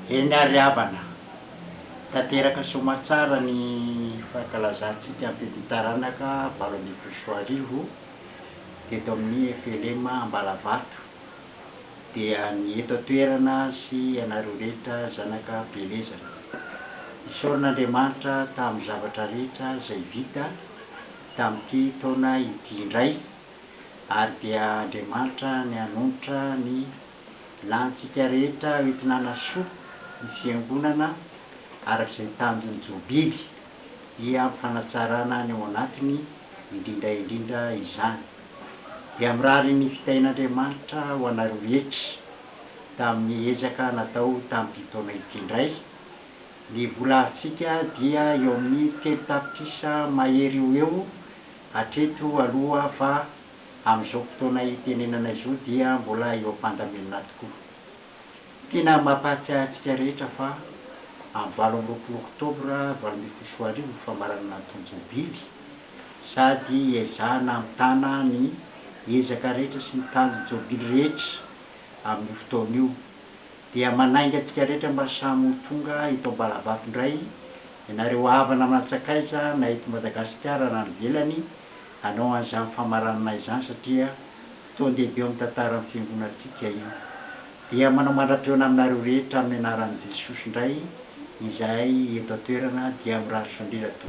Eny ary havana, tanteraka soamatsara ny fankalazantsika ny Fety Taranaka valo ambin'ny folo sy roa arivo teto amin'ny FLM Ambalavato dia ny eto an-toerana sy ianareo rehetra zanaka Belezana. Isaorana Andriamanitra tamin'ny zavatra rehetra izay vita tamin'ity taona ity indray. Ary dia Andriamanitra ny hanonitra ny lanintsika rehetra hoentina hanasoa ny Fiangonana araka izay tanjon'ny Jobiby, dia hampifanatsarana ny ao anatiny indrindra indrindra izany. Dia mirary ny fitahian'Andriamanitra ho anareo rehetra tamin'ny ezaka natao tamin'ity taona ity indray. Ny vola arintsika dia eo amin'ny telo tapitrisa mahery eo ho eo. Hatreto aloha fa amin'izao fotoana hitenenana izao dia mbola eo am-pandaminana tokoa. Tena mampahatsiahy antsika rehetra fa amin'ny valo amby roapolo oktobra valo ambin'ny folo sy roa arivo ny famaranana ny tonjobily sady iezahana hamitana ny ezaka rehetra sy ny tanjobily rehetra amin'io fotoana io dia manainga antsika rehetra mba samy ho tonga eto Ambalavato indray Ianareo havana aman-tsakaiza na eto Madagasikara na any ivelany, hanao an'izany famaranana izany satria fotoan-dehibe eo amin'ny tantaran'ny Fiangonantsika io. Dia manao mandra-pihaona aminareo rehetra amin'ny anaran'i Jesosy indray izahay eto an-toerana dia mirary fandrera tompoko.